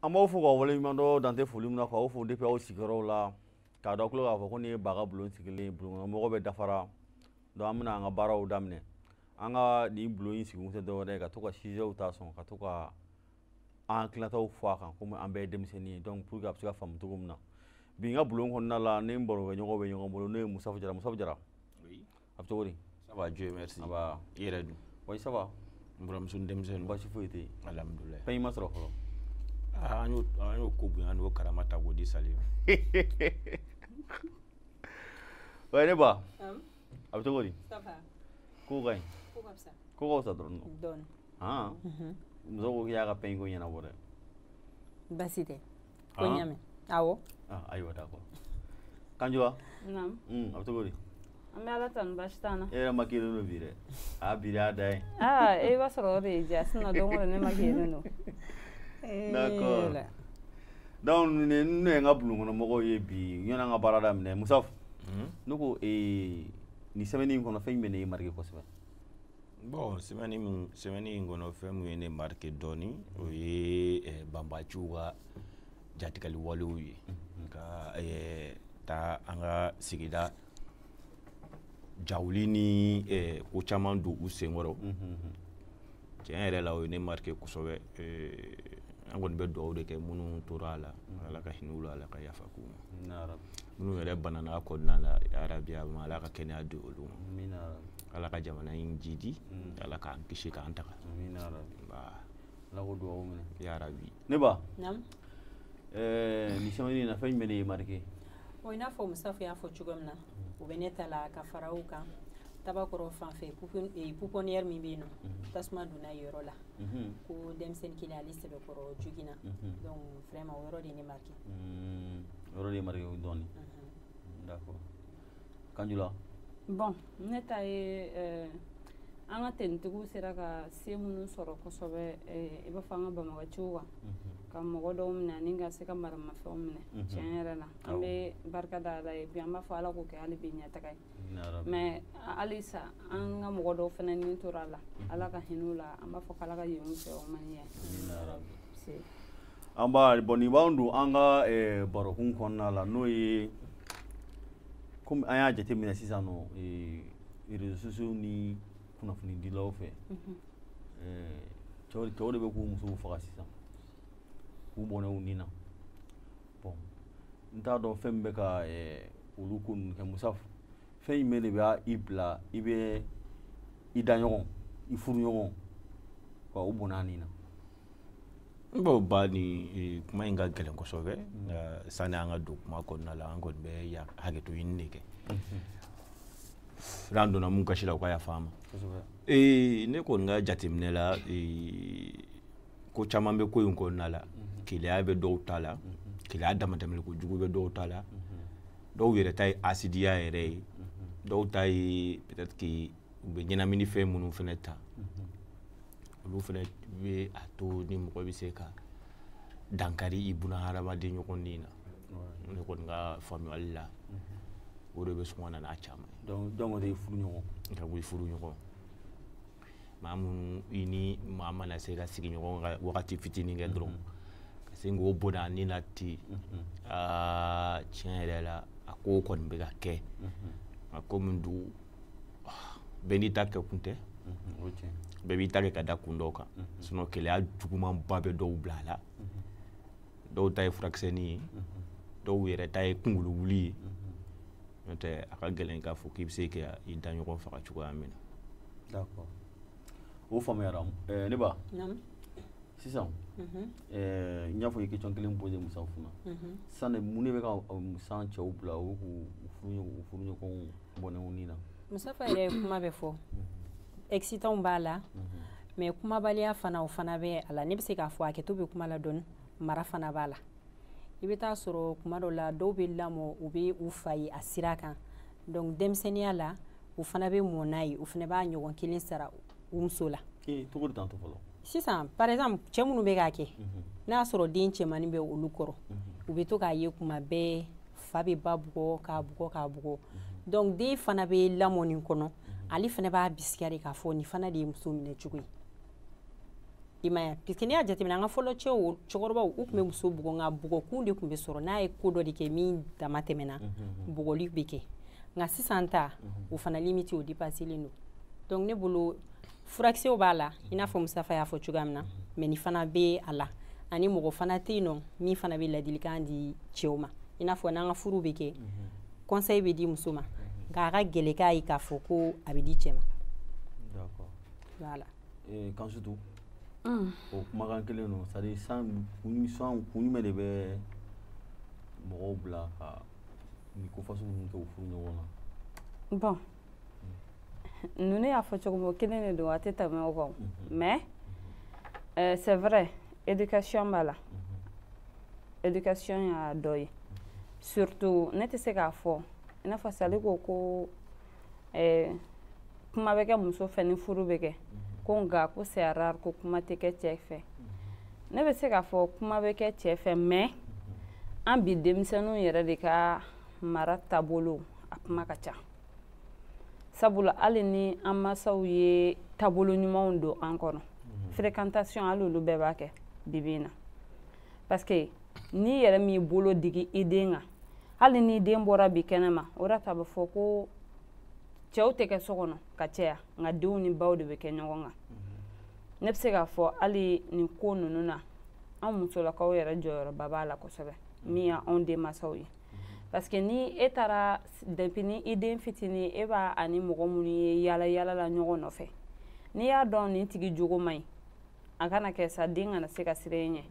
an b'aw fo k'aw waleɲumandɔn dan tɛ foli min na k'aw fo depuis aw sigiyɔrɔw la k'a d'aw tulo kan k'a fɔ ko nin ye baga bulon sigilen bulonkɔnɔmɔgɔ bɛɛ dafara donc an bɛna an ka baaraw daminɛ an ka nin bulon in sigikun tɛ dɔwɛrɛ ye ka to ka sujets ta sɔn ka to ka an hakilinataw fɔ a kan komi an bɛɛ ye denmisɛnnin ye donc pour que a bɛ se ka faamu cogo min na bi n ka bulon kɔnɔna la ne ni n barokɛɲɔgɔnw bɛ ɲɔgɔn bolo n'o ye musafu jara musafu jara a bɛ cogo di ça va Dieu merci ça va i yɛrɛ dun oui ça va n buramuso ni denmisɛnninw baasi foyi tɛ yen alhamdulilayi pagne ma sɔrɔ fɔlɔ ah, an y'o an y'o ko bonya n'o karama ta k'o di sali ma oui neba a bɛ cogo di ça va ko ka ɲi ko ka fisa ko ka fisa dɔrɔn dɔɔni han muso ko k'i y'a ka pagne ko ɲɛnabɔ dɛ baasi tɛ ko ah. n y'a mɛn awɔ ah, ayiwa d'accord kanjura hmm, a bɛ cogo di an bɛ ala tanu baasi t'an na e yɛrɛ makilen don bi dɛ a bi y'a da ye aa e b'a sɔrɔ o de y'i diya sinon don o don ne makilen don d'accord eh, donc ninnu ye n ka bulonkɔnɔmɔgɔw ye bi yanni an ka baara daminɛ musafu hmm? ne ko ee eh, nin semaine in kɔnɔ fɛn jumɛn de y'i marqué kosɛbɛ bon semaine in kɔnɔ fɛn min ye ne marqué dɔɔni o ye eh, banbaanciw ka jatigɛli walew ye mm-hmm. ka eh, taa an ka sigida jawuli ni eh, ko caman don u senkɔrɔ mm-hmm. tiɲɛ yɛrɛ la o ye ne marqué kosɛbɛ an kɔni bɛ dugawu de kɛ minnu tora a la mm-hmm. ala ka hinɛ u la ala ka yafa k'u ma minnu yɛrɛ banana a kɔnɔna la yarabi a ma ala ka kɛnɛya di olu ma ala ka jamana in jiidi mm. ala k'an kisi k'an tanga ala k'o dugawu minɛ yarabi neba nin semaine in na fɛn jumɛn de y'i marqué o i n'a fɔ musafu y'a fɔ cogo min na mm. o bɛ ne ta la ka fara o kan tabakɔrɔ fan fɛ pouponnière eh, min bɛ yen nɔ mm-hmm. tasuma donna yen yɔrɔ la mm-hmm. ko denmisɛnnin kelen ale sɛbɛkɔrɔ joginna mm-hmm. donc vraiment o yɔrɔ de ye ne marqué mm, yɔrɔ de y'i marqué dɔɔnin d'accord kanjura bon ne ta ye eh, an ka tenitigiw sera ka se minnu sɔrɔ kosɛbɛ eh, i b'a fɔ an ka banbaganciw kan mhm. ka mɔgɔ dɔw minɛ ani ka se ka maramafɛnw minɛ mhm. tiɲɛ yɛrɛ la an bɛ barika da ala ye bi an b'a fɔ ala k'o kɛ hali bi ɲɛtaga ye mais halisa an ka mɔgɔ dɔw fana ni tora a la mhm. ala ka hinɛ u la an b'a fɔ k'ala ka yafa u ma an b'a bon nin b'an don an ka eh, barokun kɔnɔna la n'o ye komi an y'a jateminɛ sisan nɔ eh, réseaux sociaux ni kunnafonidilaw fɛ mhm. eh, cɛw cɛw de bɛ k'u musow faga sisan k'u bɔnɛ u ni na bon n t'a dɔn fɛn min bɛ ka olu ko ninnu kɛ musafu fɛn jumɛn de bɛ i bila i bɛ i daɲɔgɔn i furuɲɔgɔn k'o bɔnɛ a ni na n b'o ba ni e, kuma in ka gɛlɛn kosɛbɛ nka sani an ka don kuma kɔnɔna la an kɔni bɛ ya hakɛto ɲini de kɛ n'an donna mun kasi la u ka yafa an ma ee ne kɔni ka jateminɛ la ee, ko caman bɛ ko in kɔnɔna la keleya bɛ dɔw ta la keleya damatɛmɛli kojugu bɛ dɔw ta la dɔw yɛrɛ ta ye hasidiya yɛrɛ ye dɔw ta ye peut-être que u bɛ ɲɛnamini fɛn minnu fana ta olu fana bɛ a to ni mɔgɔ bɛ se ka dankari i buna hadamaden ɲɔgɔnden na ne kɔni ka faamuyali la o de bɛ sɔn ka na n'a caman ye donc donc o de ye furu ɲɔgɔn ka bɔ i furu ɲɔgɔn maa minnu i ni maa mana se ka sigi ɲɔgɔn ka wagati fitinin kɛ dɔrɔn ka se k'o bɔnɛ a ni na ten aa tiɲɛ yɛrɛ la a ko kɔni bɛ ka kɛ nka komi dugu bɛɛ n'i ta kɛkun tɛ bɛɛ b'i ta kɛ ka da kun dɔw kan sinon keleya jugumanba bɛ dɔw bila a la dɔw ta ye furakisɛni ye dɔw yɛrɛ ta ye kungolo wuli ye n'o tɛ a ka gɛlɛn k'a fɔ k'i bɛ se ka i daɲɔgɔn faga cogoya min na o faamuyara eh, ne ba sisan mhm. eh, n y'a fɔ i question kelen posé musafa la mhm. sisan de mun de bɛ ka sisan cɛw bila u k'u furuɲɔgɔnw bɔnɛ u ni na musafa yɛrɛ ye kuma bɛɛ fɔ excitants b'a la mais kumabaliya fana o fana bɛ a la ne bɛ se k'a fɔ hakɛto bɛ kuma la dɔɔni mara fana b'a la i bɛ t'a sɔrɔ kuma dɔ la dɔw bɛ lamɔ u bɛ u fa ye a sira kan donc denmisɛnninya la u fana bɛ mɔ n'a ye u fana b'a ɲɔgɔn kelen sara u muso la cogo di tan to fɔlɔ sisan par exemple cɛ minnu bɛ k'a kɛ n'a sɔrɔ den cɛmannin bɛ olu kɔrɔ u bɛ to k'a ye kuma bɛɛ fa bɛ ba bugɔ k'a bugɔ k'a bugɔ donc den fana bɛ lamɔ nin kɔnɔ ale fana b'a bisigiya de k'a fɔ nin fana de ye muso minɛ cogo ye i m'a ye puisque n'i y'a jateminɛ an ka fɔlɔ cɛw cɛkɔrɔbaw u tun bɛ muso bugɔ nka bugɔkun de tun bɛ sɔrɔ n'a ye ko dɔ de kɛ min damatɛmɛna bugɔli bɛ kɛ nka sisan ta o fana limite o dépasselen don donc ne bolo furakisɛw b'a la i n'a fɔ musafa y'a fɔ cogoya min na mais nin fana bɛ a la ani mɔgɔ fana tɛ yen nɔ min fana bɛ ladilikan di cɛw ma i n'a fɔ n'an ka furu bɛ kɛ conseil bɛ di muso ma nka a ka gɛlɛn k'a ye k'a fɔ ko a bɛ di cɛ ma voilà eh, kansutu mm. o kumakan kelen don c'est-à-dire sisan kun jumɛn de bɛ mɔgɔw bila ka nin ko fasugu ninnu kɛ u furu ɲɔgɔn na bon ninnu y'a fɔ cogo min o kelen de don a tɛ tɛmɛ o kan mais euh, c'est vrai éducation b'a la éducation y'a dɔ ye surtout ne tɛ se k'a fɔ i n'a fɔ sali ko ko euh, kuma bɛ kɛ muso fɛ ni furu bɛ kɛ ko nka ko c'est rare ko kuma tɛ kɛ cɛ fɛ ne bɛ se k'a fɔ kuma bɛ kɛ cɛ fɛ mais an bi denmisɛnninw yɛrɛ de ka mara taabolo a kuma ka ca sabula hali ni an masaw ye taabolo ɲumanw don an kɔnɔ mhm. fréquentation hali olu bɛɛ b'a kɛ bibi in na parce que n'i yɛrɛ m'i bolo digi i den kan hali ni den bɔra bi kɛnɛma o de ta bɛ fɔ ko cɛw tɛ kɛ so kɔnɔ ka caya nka denw ni baw de bɛ kɛ ɲɔgɔn kan ne bɛ se k'a fɔ hali nin ko ninnu na an musolakaw yɛrɛ jɔyɔrɔba b'a la kosɛbɛ min y'anw denmansaw ye parce que ni e taara depuis ni i den fitinin e b'a ani mɔgɔ minnu ye yala yala la ɲɔgɔn nɔfɛ n'i y'a dɔn nin tigi jogo man ɲi a kana kɛ sa den kana se ka siran e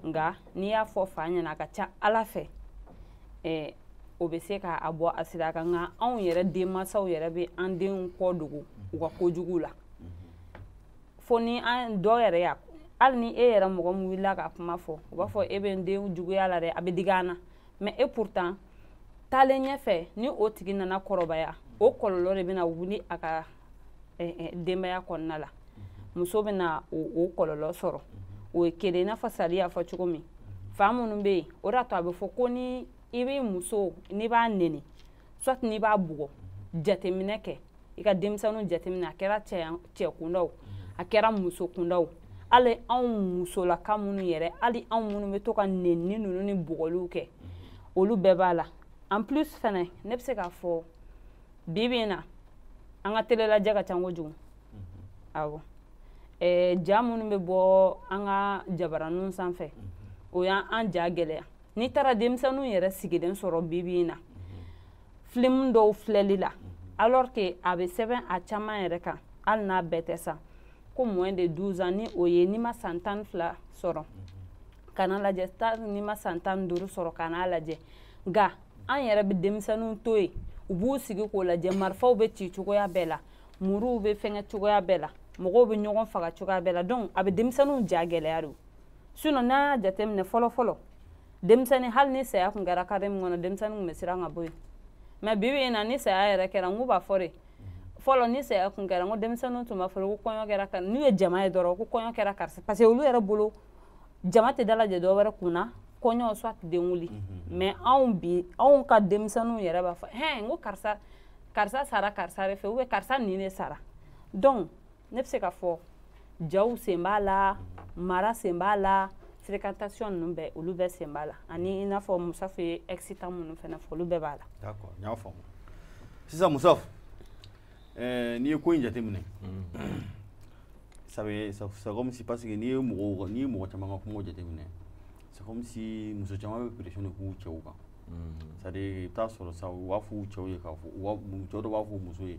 ɲɛ nka n'i y'a fɔ fa ɲɛna a ka ca ala fɛ eh, o bɛ se ka a bɔ a sira kan nka anw yɛrɛ denmansaw yɛrɛ bɛ an denw kɔ dogo u ka kojugu la fo ni an dɔ yɛrɛ y'a hali ni e yɛrɛ mɔgɔ min wulila ka kuma fɔ u b'a fɔ e bɛ n den juguya la dɛ a bɛ digi an na mais et pourtant taalen ɲɛfɛ ni o tigi nana kɔrɔbaya o kɔlɔlɔ de bɛna wuli a ka eh, eh, denbaya kɔnɔna la muso bɛna o kɔlɔlɔ sɔrɔ o ye kelen i n'a fɔ sali y'a fɔ cogo min fa minnu bɛ yen o de y'a to a bɛ fɔ ko ni i b'i muso n'i b'a neni soit n'i b'a bugɔ jateminɛ kɛ i ka denmisɛnninw jateminɛ a kɛra cɛ kundaw a kɛra muso kundaw hali anw musolaka minnu yɛrɛ hali anw minnu bɛ to ka nenni ninnu ni bugɔliw kɛ olu bɛɛ b'a la en plus fɛnɛ ne bɛ se k'a fɔ bi bi in na an ka telelajɛ ka ca kojugu mm-hmm. awɔ ɛɛ ja minnu bɛ bɔ an ka jabaraninw sanfɛ mm-hmm. o y'an ja gɛlɛya n'i taara denmisɛnninw yɛrɛ sigilen sɔrɔ bibi in na filimu dɔw filɛli la alors que a bɛ sɛbɛn a caman yɛrɛ kan hali n'a bɛɛ tɛ sa ko moins de 12 ans ni o ye n'i ma san tan ni fila sɔrɔ kana lajɛ n'i ma san tan ni duuru sɔrɔ kana lajɛ nka an yɛrɛ bɛ denmisɛnninw to yen u b'u sigi k'o lajɛ marifaw bɛ ci cogoya bɛɛ la muruw bɛ fɛngɛ cogoya bɛɛ la mɔgɔw bɛ ɲɔgɔn faga cogoya bɛɛ la donc a bɛ denmisɛnninw ja gɛlɛya de sinon n'an y'a jateminɛ fɔlɔ fɔlɔ denmisɛnnin hali ni saya tun kɛra kare min kɔnɔ denmisɛnnin tun bɛ siran ka bɔ yen mais bi bi in na ni saya yɛrɛ kɛra n k'u b'a fɔ de fɔlɔ ni saya tun kɛra n ko denmisɛnninw tun b'a fɔ ko kɔɲɔ kɛra n'u ye jama ye dɔrɔn ko kɔɲɔ kɛra karisa parce que olu yɛrɛ bolo jama tɛ dalajɛ dɔ wɛrɛ kun na kɔɲɔ soit denwuli mhm. mais anw bi anw ka denmisɛnninw yɛrɛ b'a fɔ hɛn n ko karisa karisa sara karisa de fɛ ou bien karisa nin de sara donc ne bɛ se ka fɔ jaw sen b'a la mara sen b'a la fréquentation ninnu bɛɛ olu bɛɛ sen b'a la ani i n'a fɔ Musafa ye excitant minnu fana fɔ olu bɛɛ b'a la. d'accord n y'a faamu sisan Musafa ɛɛ n'i ye ko in jateminɛ. ça veut c'est comme si parce que n'i ye mɔgɔw n'i ye mɔgɔ caman ka kumaw jateminɛ c'est comme si muso caman bɛ pression de k'u cɛw kan. c'est à dire i bɛ taa sɔrɔ sa u b'a fɔ u cɛw ye k'a fɔ u b'a cɛw dɔw b'a fɔ u muso ye.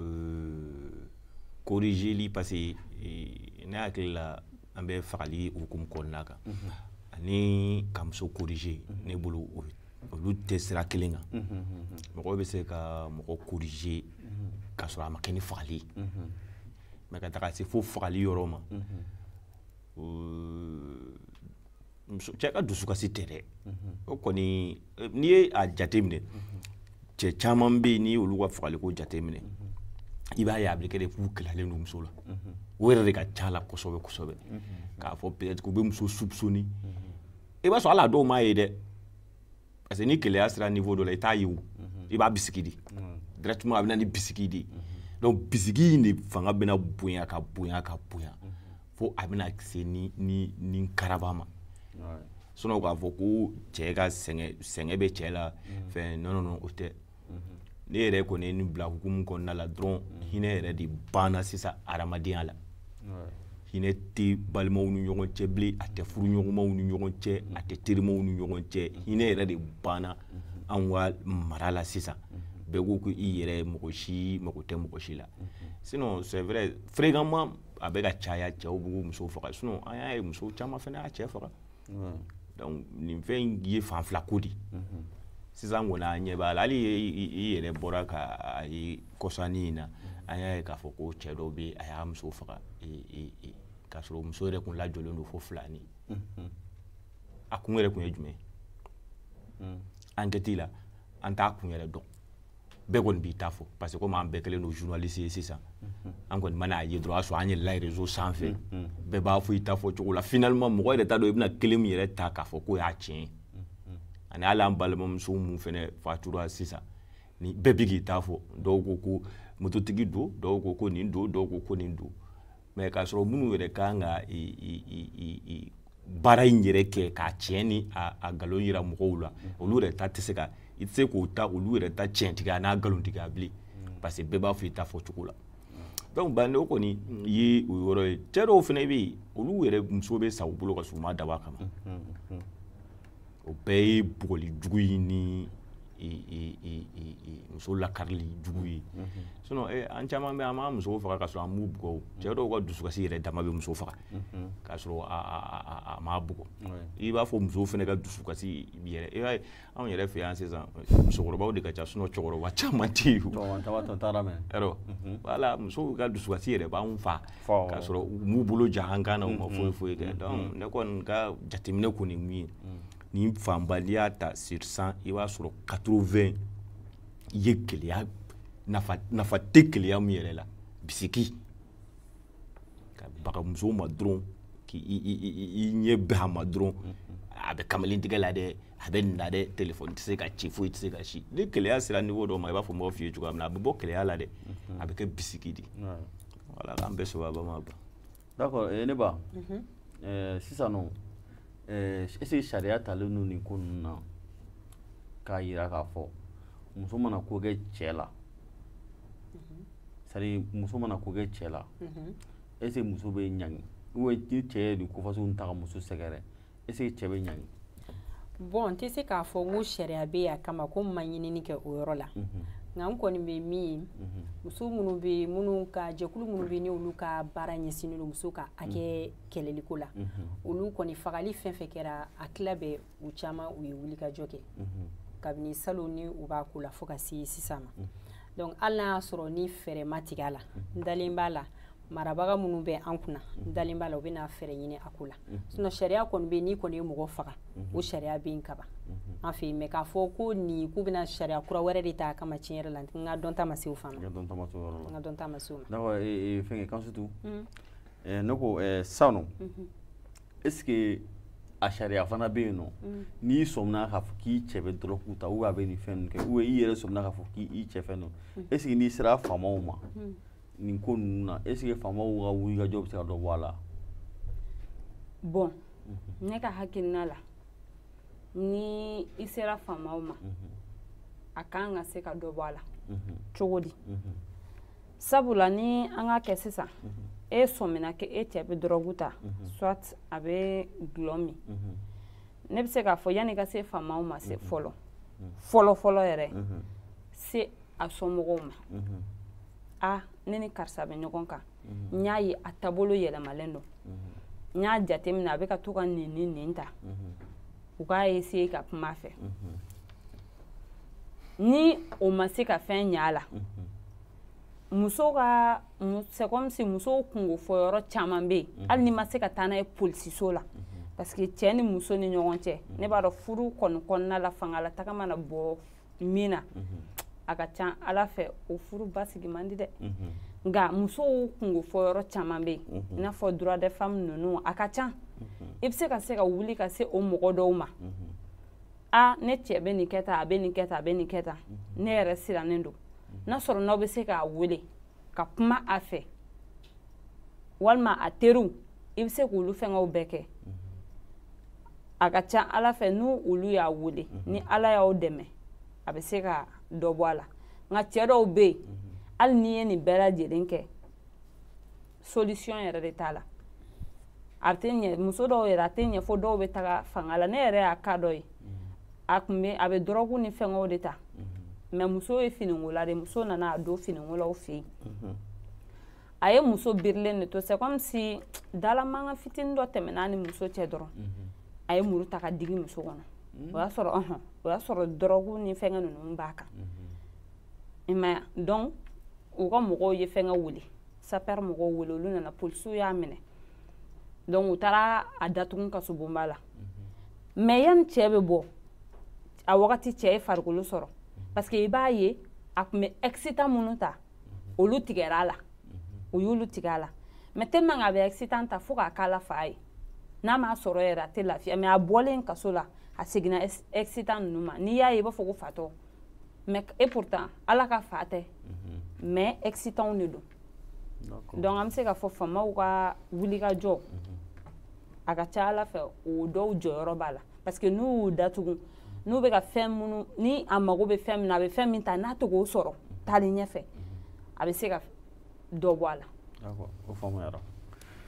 euh, corrigeli parce que euh, ne hakili la an bɛ fagali hukumu kɔnɔna kan mhm. ani ka muso corriger mhm. ne bolo olu tɛ sira kelen kan mhm, mɔgɔ bɛ se ka mɔgɔ corriger k'a sɔrɔ a ma kɛ ni fagali ye mais ka taga se fo fagali yɔrɔ ma muso cɛ ka dusukasi tɛ dɛ o kɔni n'i ye a jateminɛ cɛ caman bɛ yen n'i y'olu ka fagaliko jateminɛ i b'a ye a bɛ kɛ de k'u keleyalen don muso la o yɛrɛ de ka ca la kosɛbɛ kosɛbɛ k'a fɔ peut-être k'u bɛ muso soupçonner i b'a sɔrɔ hali a dɔw m'a ye dɛ parce que ni keleya sera niveau dɔ la i t'a ye o i b'a bisigi de directement a bɛ na ni bisigi de ye donc bisigi in de fanga bɛna bonya ka bonya ka bonya fo a bɛna se ni ni ni karaba ma sinon k'a fɔ ko cɛ ka sɛgɛn sɛgɛn bɛ cɛ la fɛn non non non o tɛ ne yɛrɛ kɔni ye nin bila hukumu kɔnɔna la dɔrɔn hinɛ yɛrɛ de banna sisan adamadenya la hinɛ tɛ balimaw ni ɲɔgɔn cɛ bilen a tɛ furuɲɔgɔnmaw ni ɲɔgɔn cɛ a tɛ terimaw ni ɲɔgɔn cɛ hinɛ yɛrɛ de banna anw ka mara la sisan bɛɛ ko ko i yɛrɛ mɔgɔ si mago tɛ mɔgɔ si la sinon c'est vrai fréquemment a bɛ ka caya cɛw b'u musow faga sinon an y'a ye musow caman fana y'a cɛ faga donc nin fɛn in ye fan fila ko de sisan kɔni an ɲɛ b'a la hali i yɛrɛ bɔra ka a ye kɔsanin in na an y'a ye k'a fɔ ko cɛ dɔ bɛ a y'a muso faga k'a sɔrɔ muso yɛrɛ tun lajɔlen don fo filanin a kun yɛrɛ kun ye jumɛn ye ankɛti la an t'a kun yɛrɛ dɔn bɛɛ kɔni b'i ta fɔ parce que komi an bɛɛ kɛlen don journaliste ye sisan mhm. an kɔni mana a ye dɔrɔn a sɔrɔ an yɛlɛla réseau sanfɛ mhm, mhm. bɛɛ b'a fɔ i ta fɔ cogo la finalement mɔgɔ yɛrɛ t'a dɔn i bɛna kelen min yɛrɛ ta k'a fɔ k'o y'a tiɲɛ ani hali an balimamuso min fɛnɛ fatura sisan nin bɛɛ bɛ k'i ta fɔ dɔw ko ko mototigi don dɔw ko ko nin don dɔw ko ko nin don mais k'a sɔrɔ minnu yɛrɛ kan ka baara in yɛrɛ kɛ k'a tiɲɛ ni a nkalon yira mɔgɔw la olu yɛrɛ ta tɛ se ka i tɛ se k'o ta olu yɛrɛ ta tiɲɛtigiya n'a nkalontigiya bilen parce que bɛɛ b'a fɔ i ta fɔ cogo la donc bon o kɔni ye o yɔrɔ ye cɛ dɔw fana bɛ yen olu yɛrɛ muso bɛ sa u bolo ka sɔrɔ u m'a dabɔ a kama o bɛɛ ye bugɔli jugu ye ni muso lakarili jugu ye sinon eh, an caman bɛ an b'an musow faga ka sɔrɔ an m'u bugɔ cɛ dɔw ka dusukasi yɛrɛ dama bɛ muso faga k'a sɔrɔ a m'a bugɔ i b'a fɔ musow fana ka dusukasi yɛrɛ i b'a ye anw yɛrɛ fɛ yan sisan musokɔrɔbaw de ka ca sinon cɛkɔrɔba caman tɛ yen o yɔrɔ voilà musow ka dusukasi yɛrɛ b'anw fa k'a sɔrɔ u m'u bolo da an kan na u ma foyi foyi kɛ donc ne kɔni ka jateminɛ kɔni min ye nin fanba n'i y'a ta sur 100 i b'a sɔrɔ 80 ye keleya nafa tɛ keleya min yɛrɛ la bisigi ka baga musow ma dɔrɔn k'i ɲɛ bɛn a ma dɔrɔn a bɛ kamalen tigɛ la dɛ a bɛ nin la dɛ telefɔni tɛ se ka ci foyi tɛ se ka si ni keleya sera niveau dɔ ma i b'a fɔ mɔgɔ f'i ye cogoya min na a bɛ bɔ keleya la dɛ a bɛ kɛ bisigi de Voilà, an bɛ sɔrɔ a ba ma ba. D'accord, eh, ne ba. Mhm. Eh, sisan nɔ, eh, est ce que sariya talen don nin ko ninnu na k'a yira k'a fɔ muso mana ko kɛ cɛ la. Mhm. C'est à dire muso mana ko kɛ cɛ la. Mhm. Est ce que muso bɛ ɲangi? Ou ni cɛ ye nin ko fasugu ninnu ta ka muso sɛgɛrɛ? est ce que cɛ bɛ ɲangi bon n tɛ se k'a fɔ ko sariya bɛ a kama ko n ma ɲinini kɛ o yɔrɔ la mhm. nka n kɔni bɛ min ye mhm. muso minnu bɛ minnu ka jɛkulu minnu bɛ n'olu ka baara ɲɛsinnen don muso ka hakɛ mhm. kɛlɛliko la olu kɔni fagali fɛn fɛn kɛra a tila bɛ u caman u ye wulikajɔ kɛ kabini salon ni u b'a ko la fo ka se sisan ma donc hali n'a y'a sɔrɔ ni fɛɛrɛ ma tigɛ a la n dalen b'a la marabaga minnu bɛ an kunna n dalen b'a la u bɛna fɛɛrɛ ɲini a ko la sinon sariya kɔni bɛ yen n'i kɔni ye mɔgɔ faga o sariya bɛ yen kaban an fɛ yen mais k'a fɔ ko nin k'u bɛna sariya kura wɛrɛ de ta a kama tiɲɛ yɛrɛ la n ka dɔnta ma se o fan ma n ka dɔnta ma se o ma fɛnkɛ kansutu ne ko sisan nɔ est ce que a sariya fana bɛ yen nɔ n'i sɔmina k'a fɔ k'i cɛ bɛ dɔrɔgu ta ou a bɛ nin fɛn ninnu kɛ ou i yɛrɛ sɔmina k'a fɔ k'i cɛ fɛn don est ce que n'i sera faamaw ma nin ko ninnu na est ce que faamaw ka wulikajɔ bɛ se ka dɔ bɔ a la bon mhm. ne ka hakilina la ni i sera faamaw ma mhm. a kan ka se ka dɔ bɔ a la mhm. cogo di sabula ni an k'a kɛ sisan e sɔmina ko e cɛ bɛ dɔrɔgu ta soit a bɛ gulɔ min ne bɛ se k'a fɔ yanni i ka se faamaw ma se fɔlɔ fɔlɔ fɔlɔ yɛrɛ se a somɔgɔw ma mhm. a ne ni karisa bɛ ɲɔgɔn kan mhm. n y'a ye a taabolo yɛlɛmalen don mhm. n y'a jateminɛ a bɛ ka to ka nin ni nin ta u k'a essayer ka kuma a fɛ ni o ma se ka fɛn ɲa a la muso ka c'est comme si musow kungo fɔ yɔrɔ caman bɛ yen hali n'i ma se ka taa n'a ye polisiso la parce que cɛ ni muso ni ɲɔgɔn cɛ ne b'a dɔn furu kɔni kɔnɔna la fanga la taga mana bɔ min na a ka ca ala fɛ o furu basigi man di dɛ nka musow kungo fɔ yɔrɔ caman bɛ yen i n'a fɔ droit de femme ninnu a ka ca i bɛ se ka se ka wuli ka se o mɔgɔ dɔw ma a ne cɛ bɛ nin kɛ tan a bɛ nin kɛ tan a bɛ nin kɛ tan ne yɛrɛ sirannen don n'a sɔrɔ n'aw bɛ se k'a wele ka kuma a fɛ walima a teriw i bɛ se k'olu fɛngɛw bɛɛ kɛ a ka ca ala fɛ n'u olu y'a wele mhm. ni ala y'aw dɛmɛ a bɛ se ka dɔ bɔ a la nka cɛ dɔw bɛ yen mhm. hali n'i ye nin bɛɛ lajɛlen kɛ solution yɛrɛ de t'a la a tɛ ɲɛ muso dɔw yɛrɛ a tɛ ɲɛ fo dɔw bɛ taga fanga la ne yɛrɛ y'a ka dɔ ye a tun bɛ a bɛ dɔrɔgu ni fɛngɛw de ta mais muso ye finikola de muso nana a don finikolaw fɛ yen a ye muso birilen de to c'est comme si dalamankan fitinin dɔ tɛmɛna a ni muso cɛ dɔrɔn a ye muru ta k'a digi muso kɔnɔ o y'a sɔrɔ ɔhɔn o y'a sɔrɔ dɔrɔgu ni fɛngɛ ninnu b'a kan i m'a ye donc u ka mɔgɔw ye fɛngɛ wele sapeur mɔgɔw wele olu nana polisiw y'a minɛ donc u taara a datugu kaso bonba la mais yanni cɛ bɛ bɔ a wagati cɛ ye farikolo sɔrɔ parce que i b'a ye a tun bɛ excitant minnu ta olu tigɛra a la u y'olu tigɛ a la mais tellement a bɛ excitant ta fo k'a k'a la fa ye n'a m'a sɔrɔ yɛrɛ a tɛ lafiya mais a bɔlen kaso la a seginna excitant ninnu ma n'i y'a ye i b'a fɔ ko fatɔ mais et pourtant ala ka fa tɛ mhm. mais excitant de don donc an bɛ se k'a fɔ faamaw ka wuli ka jɔ mhm. a ka ca ala fɛ o dɔw jɔyɔrɔ b'a la parce que n'u y'u datugu n'u bɛ ka fɛn minnu ni a mago bɛ fɛn min na a bɛ fɛn min ta n'a tɛ k'o sɔrɔ taali ɲɛfɛ mhm. a bɛ se ka dɔ bɔ a la o faamuyara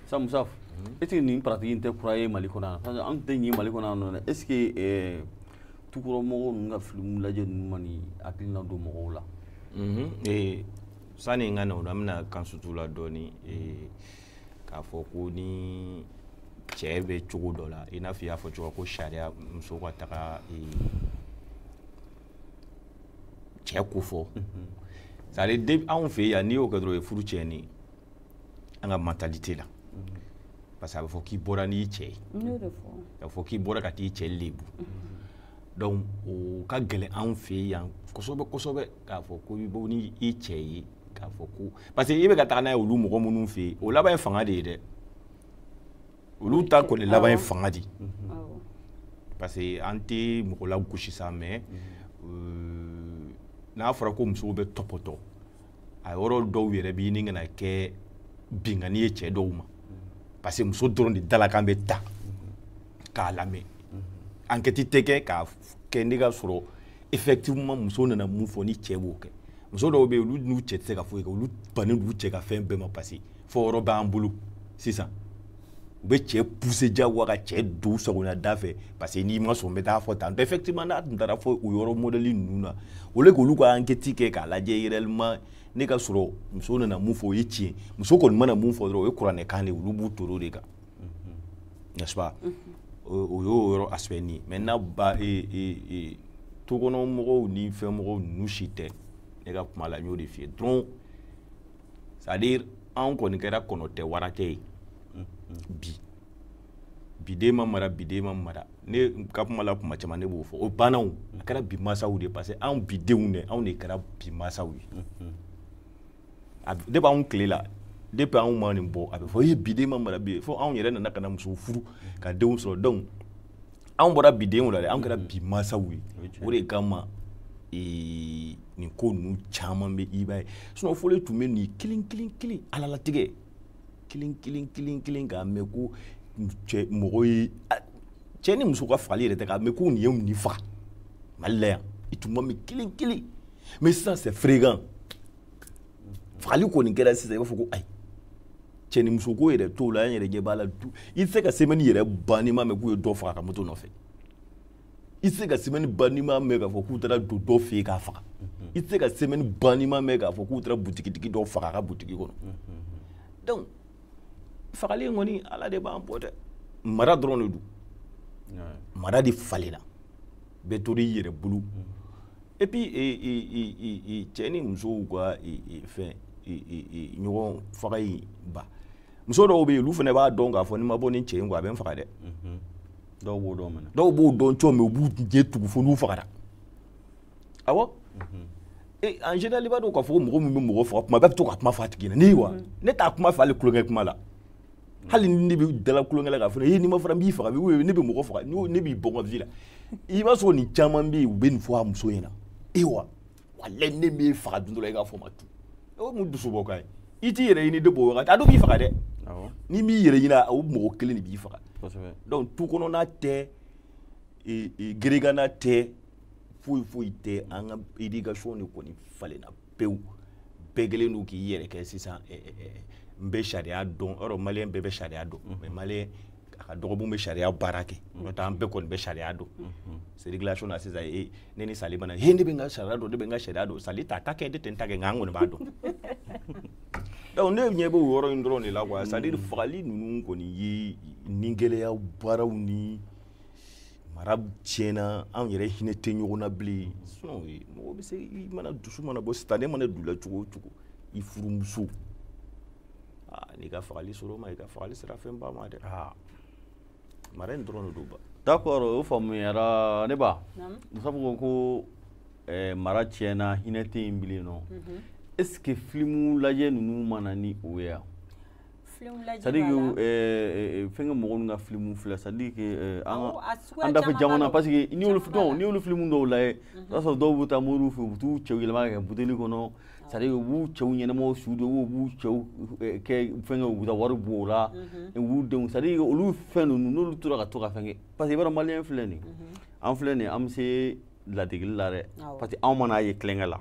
sa musaf mhm. est ce que nin pratique in tɛ kura ye mali kɔnɔ yan parce que an tɛ ɲin mali kɔnɔ yan nɔ dɛ est ce que eh, tukɔrɔmɔgɔw ninnu ka filimu lajɛ ninnu ma nin hakilina don mɔgɔw la mhm. eh, sani n ka na o la an bɛna kan sutu la dɔɔni eh, k'a fɔ ko ni cɛ bɛ cogo dɔ la i n'a fɔ i y'a fɔ cogo ko sariya muso ka taga cɛ ko fɔ c'est à dire anw fɛ yan n'i y'o kɛ dɔrɔn o ye furu tiɲɛni ye an ka mentalité la parce que a bɛ fɔ k'i bɔra n'i cɛ ye a bɛ fɔ k'i bɔra ka t'i cɛ lebu donc o ka gɛlɛn anw fɛ yan kosɛbɛ kosɛbɛ k'a fɔ ko i bɔ ni i cɛ ye k'a fɔ ko parce que i bɛ ka taga n'a ye olu mɔgɔ minnu fɛ yen o laban ye fanga de ye dɛ olu ta kɔni laban ye fanga di parce que an tɛ mɔgɔ lagosi sa mais euh, n'a fɔra ko musow bɛ tɔpɔtɔ a yɔrɔ dɔw yɛrɛ bɛ ɲini ka na kɛ binkanni ye cɛ dɔw ma parce que muso dɔrɔn de dalakan bɛ ta k'a lamɛn enquête tɛ kɛ k'a kɛ ne ka sɔrɔ effectivement muso nana mun fɔ ni cɛ b'o kɛ muso dɔw bɛ yen olu n'u cɛ tɛ se ka foyi kɛ olu bannen don u cɛ ka fɛn bɛɛ ma parce que fɔ yɔrɔ b'an bolo sisan u bɛ cɛ pousser jagoya ka cɛ don sagona da fɛ parce que n'i ma sɔn n bɛ taa fɔ tan effectivement n'a tun taara fɔ o yɔrɔ modèle ninnu na au lieu k'olu ka enquête kɛ k'a lajɛ réellement ne ka sɔrɔ muso nana mun fɔ o ye tiɲɛ muso kɔni mana mun fɔ dɔrɔn o ye kuranɛkan de ye olu b'u to o de kan n'est ce pas o y'o yɔrɔ aspect nin ye maintenant ba e, e, e, tukɔnɔ mɔgɔw ni fɛn mɔgɔw ninnu si tɛ ne ka kuma la n y'o de f'i ye dɔrɔn c'est à dire anw kɔni kɛra kɔnɔ tɛ wara tɛ ye bi biden ma mara biden ma mara ne ka kuma la kuma caman ne b'o fɔ o bannaw a kɛra bi masaw de parce que anw bidenw de anw de kɛra bi masaw ye depuis anw tile la depuis anw ma ɲin bɔ a bɛ fɔ ye biden ma mara bi fo anw yɛrɛ nana ka na musow furu ka denw sɔrɔ donc anw bɔra bidenw la dɛ anw kɛra mm. bi masaw ye o de kama ee, nin ko ninnu caman bɛ i b'a ye sinon fɔlɔ tun bɛ nin kelen kelen kelen ala latigɛ kelen kelen kelen kelen k'a mɛn ko cɛ mɔgɔ ye cɛ ni muso ka fagali yɛrɛ tɛ k'a mɛn ko nin ye nin faga mali la yan i tun b'a mɛn kelen kelen mais sisan c'est fréquent fagali kɔni kɛra sisan i b'a fɔ ko ayi cɛnimusoko yɛrɛ t'o la an yɛrɛ ɲɛ b'a la du i tɛ se ka semaine yɛrɛ ban n'i m'a mɛn k'u ye dɔ faga a ka moto nɔfɛ i tɛ se ka semaine ban n'i m'a mɛn k'a fɔ k'u taara don dɔ fɛ yen k'a faga i tɛ se ka semaine ban n'i m'a mɛn k'a fɔ k'u taara butigitigi dɔ faga a ka butigi kɔnɔ donc fagali in kɔni ala de b'an bɔ dɛ mara dɔrɔn de don mara de falenna bɛɛ tora i yɛrɛ bolo et puis et et et cɛ ni musow ka fɛn ɲɔgɔn faga in ba muso dɔw bɛ yen olu fana b'a dɔn k'a fɔ ni n ma bɔ nin cɛ in kɔ a bɛ n faga dɛ mhm. dɔw b'o dɔn mais dɔw b'o dɔn cogo min u b'u ɲɛ tugu fo n'u fagara awɔ mhm. e, en général i b'a dɔn k'a fɔ ko mɔgɔ min bɛ mɔgɔ faga kuma bɛɛ bɛ to k'a kuma fɔ a tigi ɲɛna ne wa mhm. ne t'a kuma fɔ hali tulonkɛ kuma la hali ni ne bɛ dala tulonkɛ la k'a fɔ ne n'i ma fara n b'i faga ne bɛ mɔgɔ faga ne b'i bɔ n ka vie la i b'a sɔrɔ nin caman bɛ yen u bɛ nin fɔ a muso ɲɛna wa walayi ne b'e faga don dɔ la i k'a fɔ ma tu o mun dusu bɔ ka ye i t'i yɛrɛ ɲini de b'o wagati a dɔw b'i faga dɛ n'i m'i yɛrɛ ɲini o mɔgɔ kelen de b'i faga donc tu kɔnɔna tɛ geregana tɛ foyi foyi tɛ an ka éducation de kɔni falenna pewu bɛɛ kɛlen don k'i yɛrɛ kɛ sisan n bɛ sariya dɔn yɔrɔ maliyɛn bɛɛ bɛ sariya dɔn mais maliyɛn a ka dɔgɔ min bɛ sariya baara kɛ n'o tɛ an bɛɛ kɔni bɛ sariya dɔn circulation na sisan e ne ni sali mana he ne bɛ n ka sariya dɔn ne bɛ n ka sariya dɔn sali t'a ta kɛ ne tɛ n ta kɛ nka an kɔni b'a dɔn donc ne ɲɛ bɛ o yɔrɔ in dɔrɔn de la quoi c'est à dire fagali ninnu kɔni ye ni gɛlɛya baaraw ni mara tiɲɛna anw yɛrɛ hinɛ tɛ ɲɔgɔn na bilen mɔgɔ bɛ se i mana dusu mana bɔ sitanɛ mana don i la cogo o cogo i furumuso n'i ka fagali sera o ma i ka fagali sera fɛn ba ma dɛ mara in dɔrɔn de don ba d'accord o faamuyara ne ba musa ko ko eh, mara tiɲɛna hinɛ tɛ yen bilen nɔ mhm. est ce que filimu lajɛ ninnu ma na ni o ye yan c'est à dire que fɛnkɛ mɔgɔ ka filimu filɛ c'est à dire an dafɛ jamana parce que n'i y'olu dɔn n'i y'olu filimu dɔw lajɛ i b'a sɔrɔ dɔw bɛ taa moriw fɛ u bɛ t'u cɛw yɛlɛma ka kɛ buteli kɔnɔ c'est à dire u b'u cɛw ɲɛnamaw su de u b'u cɛw kɛ fɛn u bɛ taa wari bɔ o la u b'u denw c'est à dire olu fɛn ninnu n'olu tora ka to ka fɛn kɛ parce que i b'a dɔn maliyɛn filɛ nin an filɛ nin an bɛ se ladegeli la dɛ parce que anw man'a ye tulonkɛ la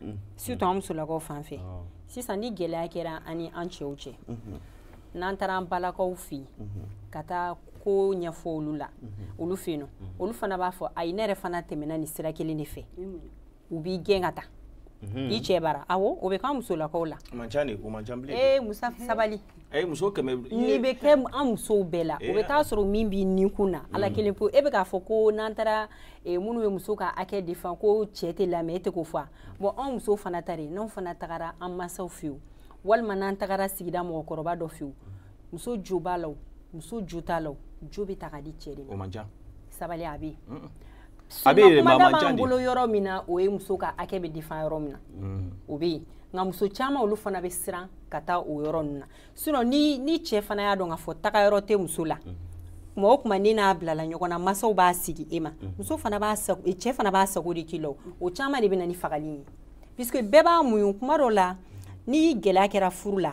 mm. surtout an musolakaw fan fɛ ah. sisan ni gɛlɛya kɛra ani an cɛw cɛ mm-hmm. n'an taara an balakaw fɛ yen mm-hmm. ka taa ko ɲɛfɔ olu la mm-hmm. olu fɛ yen nɔ olu fana b'a fɔ ayi ne yɛrɛ fana tɛmɛna nin sira kelen de fɛ u b'i gɛn ka taa i cɛ bara awɔ o bɛ k'an musolakaw la ee musa sabali a ye muso kɛmɛ nin bɛ kɛ an musow bɛɛ la o bɛ taa sɔrɔ min b'i ni kun na ala mm. kelen pe e bɛ k'a fɔ ko n'an taara eh, minnu bɛ muso ka hakɛ défend ko cɛ tɛ lamɛn e tɛ k'o fɔ bon anw musow fana ta de n'anw fana tagara an masaw fɛ yen walima n'an tagara sigida mɔgɔkɔrɔba dɔ fɛ yen muso jo b'a la o muso jo t'a la o jo bɛ ta ka di cɛ de ma sabali a bɛ yen a bɛ yen mais a man ca de bolo yɔrɔ min na o ye muso ka hakɛ bɛ défend yɔrɔ min na mm. o bɛ yen nka muso caman olu fana bɛ siran ka taa o yɔrɔ ninnu na sinon ni ni cɛ fana y'a dɔn k'a fɔ taga yɔrɔ tɛ muso la mm. kuma o kuma ni n'a bilala ɲɔgɔn na masaw b'a segin e ma mm. muso fana b'a sago e cɛ fana b'a sago de k'i la o caman de bɛ na ni fagali ye puisque bɛɛ b'a muɲu kuma dɔ la ni gɛlɛya kɛra furu la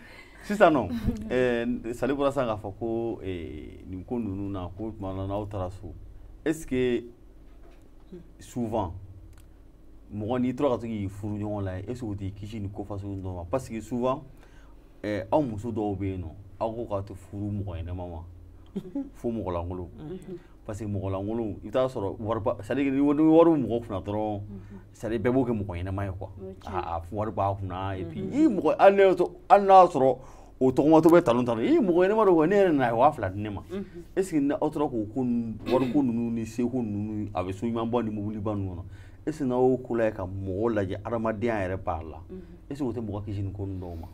sisan nɔ eh, sali bɔra sisan k'a fɔ ko eh, nin ko ninnu na ko tuma dɔ la n'aw taara so est ce que souvent mɔgɔ n'i tora ka to k'i furuɲɔgɔn lajɛ est ce que o t'i kisi nin ko fasugu dɔ ma parce que souvent eh, aw muso dɔw bɛ yen nɔ aw ko k'a tɛ furu mɔgɔ ɲɛnama ma fo mɔgɔlankolon parce que mɔgɔlankolon i bɛ t'a sɔrɔ wari b'a c'est à dire ni wari bɛ mɔgɔ kunna dɔrɔn c'est à dire bɛɛ b'o kɛ mɔgɔ ɲɛnama ye quoi wari b'a kunna i mm-hmm. mɔgɔ hali ne hali n'a sɔrɔ o tɔgɔmatɔ bɛ talon talon i mɔgɔ ɲɛnama don ne yɛrɛ nana a ye waa fila di ne ma mm-hmm. est ce que ni aw tora k'o ko wariko ninnu ni seko ninnu a bɛ so ɲumanba ni mobiliba ninnu kɔnɔ est ce que n'aw y'o ko lajɛ ka mɔgɔw lajɛ adamadenya yɛrɛ b'a la mm-hmm. est ce que o tɛ mɔgɔ kisi nin ko ninnu dɔw ma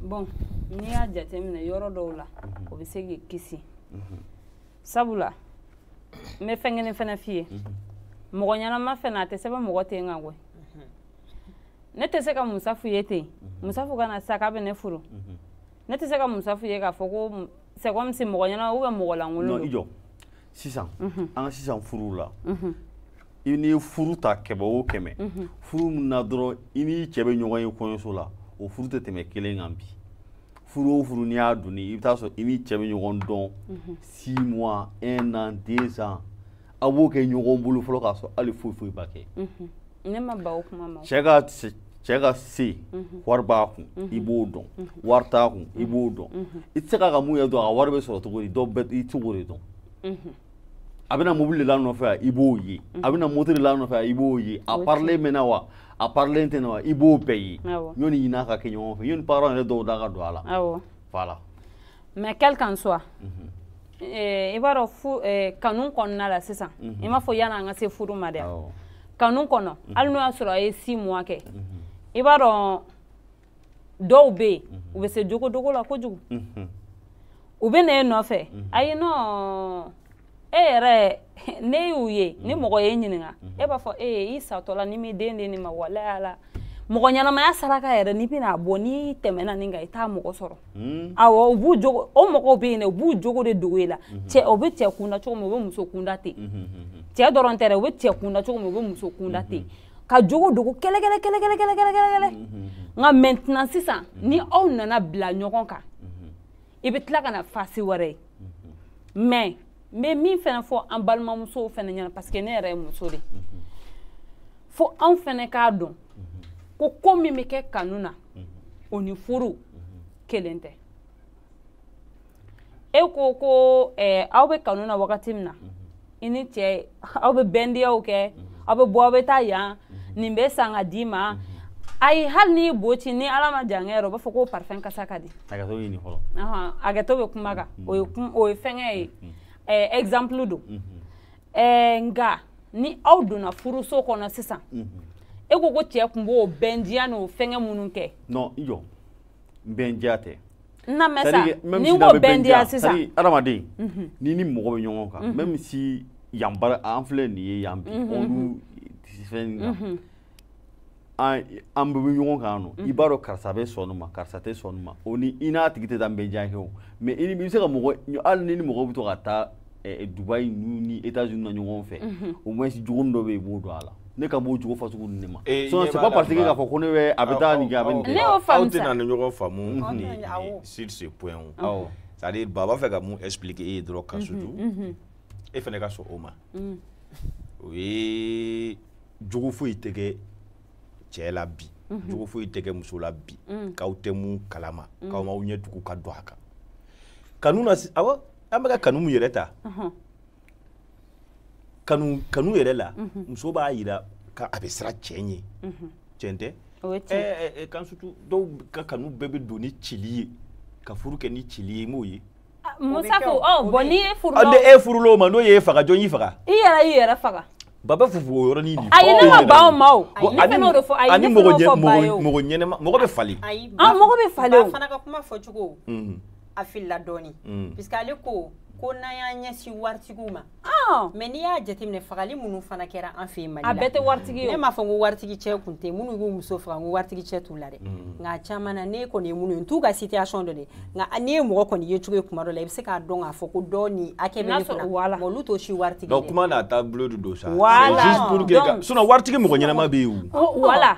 bon n'i y'a jateminɛ yɔrɔ dɔw la o bɛ se k'i kisi sabula n bɛ fɛn kelen fana f'i ye mɔgɔ ɲɛnama fana a tɛ sɛbɛn mɔgɔ ten kan koyi ne tɛ se ka musafu ye ten musafu ka na sa k'a bɛ ne furu ne tɛ se ka musafu ye k'a fɔ ko c'est comme si mɔgɔ ɲɛnama ou bien mɔgɔ lankolon non i jɔ sisan an ka sisan furuw la i ni furu ta kɛmɛ o kɛmɛ furu min na dɔrɔn i ni cɛ bɛ ɲɔgɔn ye kɔɲɔso la o furu tɛ tɛmɛ kelen kan bi furu o furu n'i y'a donni i bɛ t'a sɔrɔ i ni cɛ bɛ ɲɔgɔn dɔn six mois un an deux ans aw b'o kɛ ɲɔgɔn bolo fɔlɔ k'a sɔrɔ hali foyi foyi ma kɛ ne ma ban o kuma ma cɛ ka cɛ ka se wari b'a kun i b'o dɔn wari t'a kun i b'o dɔn i tɛ se k'a ka mɔgɔya dɔn a ka wari bɛ sɔrɔ cogo di dɔw bɛ i cogo de dɔn a bɛ na mobili de la nɔfɛ a i b'o ye a bɛ na moto de la nɔfɛ a i b'o ye a parilen bɛ na wa a parilen tɛ na wa i b'o bɛɛ ye yanni i n'a ka kɛ ɲɔgɔn fɛ yanni parents yɛrɛ dɔw da ka don a la voilà mais quel qu'en soit mhm. eh, i b'a dɔn fu eh, kanu kɔnɔna la sisan mhm. i m'a fɔ yanni an ka se furu ma dɛ kanu kɔnɔ mhm. hali n'o y'a sɔrɔ a ye six mois kɛ i b'a dɔn dɔw bɛ yen mhm. u bɛ se jogodogo la kojugu mhm. u bɛ na e nɔfɛ mhm. ayi non e yɛrɛ n'e y'u ye ni mɔgɔ y'e ɲininka e b'a fɔ ee i satɔla n'i m'i den di nin ma walayi ala mɔgɔ ɲɛnamaya saraka yɛrɛ n'i bɛna a bɔ n'i tɛmɛna nin kan i t'a mɔgɔ sɔrɔ hmm. awɔ u b'u jogo o mɔgɔw bɛ yen dɛ u b'u jogo de dogo e la cɛ o bɛ cɛ kunda cogo min u bɛ muso kunda ten cɛ dɔrɔn tɛ dɛ u bɛ cɛ kunda cogo min u bɛ muso kunda ten ka jogo dogo kɛlɛkɛlɛ kɛlɛkɛlɛ kɛlɛkɛlɛ nka maintenant sisan ni aw nana bila ɲɔgɔn kan i bɛ tila ka na face wɛrɛ ye mais n bɛ min fɛnɛ fɔ an balimamusow fɛnɛ ɲɛna parce que ne yɛrɛ ye muso de fo anw fɛnɛ k'a dɔn ko ko min bɛ kɛ kanu na o ni furu kelen tɛ e ko ko eh, aw bɛ kanu na wagati min na mhm. i ni cɛ aw bɛ bɛndiyaw kɛ mhm. aw bɛ bɔ aw bɛ taa yan mhm. nin bɛ san ka d'i ma ayi hali n'i bo ci ni ala ma jankɛ yɛrɛ o b'a fɔ ko parfum kasa ka di hakɛto ɲini fɔlɔ hakɛto bɛ kuma kan o ye o ye fɛnkɛ ye eh, exemple don eh, nka ni aw donna furuso kɔnɔ sisan e ko ko cɛ tun b'o bɛndiya n'o fɛnkɛ minnu kɛ non i jɔ bɛndiya tɛ na mɛ sa ni ko bɛndiya sisan adamaden n'i ni mɔgɔ bɛ ɲɔgɔn kan même si yan bara an filɛ nin ye yan bi olu fɛn kan an bɛ ɲɔgɔn kan non i b'a dɔn karisa bɛ sɔn nin ma karisa tɛ sɔn nin ma o ni i n'a tigi tɛ taa bɛndiya kɛ o mais i bɛ se ka mɔgɔ hali n'i ni mɔgɔ bɛ to ka taa eh, Dubaï n'u ni États-Unis na ɲɔgɔn fɛ au moins jogo min dɔ bɛ yen i b'o dɔn a la ne kan b'o jogo fasugu ninnu de ma Eh, sinon ɲɛ c'est b'a pas la parce que Dubaï. k'a fɔ ko ne bɛ a bɛ taa nin kɛ a bɛ nin Ne kɛ y'o faamu aw sa. tɛna ni ɲɔgɔn faamu Aw ni tɛna- awɔ. ni sur ce point o awɔ c'est à dire baba fɛ ka mun expliquer e ye dɔrɔn ka sutu e fɛnɛ ka sɔn o ma o ye jogo foyi tɛ kɛ cɛ la bi jogo foyi tɛ kɛ muso la bi k'aw tɛ mun kalama k'aw m'aw ɲɛ tugu ka don a kan kanu na si- awɔ an bɛka kanu min yɛrɛ ta kanu kanu yɛrɛ la mhm. muso b'a yira k'a bɛ siran cɛ ɲɛ mhm. cɛn tɛ kan sutu dɔw ka kanu bɛɛ bɛ don ni cili ye ka furu kɛ ni cili ye i m'o ye ah, musafo ɔ bɔn n'i ye furu lɔ e furul'o ma n'o y'e faga jɔn y'i faga i yɛrɛ y'i yɛrɛ faga baba fufu o yɔrɔnin de fɔ ayi ne ma ban o ma o ne fana o de fɔ ayi ne fana o fɔ ba ye o mɔgɔ ɲɛnɛma mɔgɔ bɛ falen mɔgɔ bɛ falen o ba fana ka kuma fɔcogo mhm. a filila dɔɔni mm. puisque ale ko ko n'an y'an ɲɛsin waritigiw ma ah! mais n'i y'a jateminɛ fagali minnu fana kɛra an fɛ yen Mali la a bɛɛ tɛ waritigi ye ne m'a fɔ ko waritigi cɛ kun tɛ minnu b'u muso faga ko waritigi cɛ t'u la dɛ mm. nka a caman na ne kɔni ye minnu ye n t'u ka situation dɔn dɛ nka n'i ye mɔgɔ kɔni yecogo ye kuma dɔ la i bɛ se k'a dɔn k'a fɔ ko dɔɔnin hakɛ bɛ ne kunna nka olu t'o si waritigi ye kuma n'a taabolo de don sa voilà donc sinon waritigi mɔgɔ ɲɛnama bɛ yen o voilà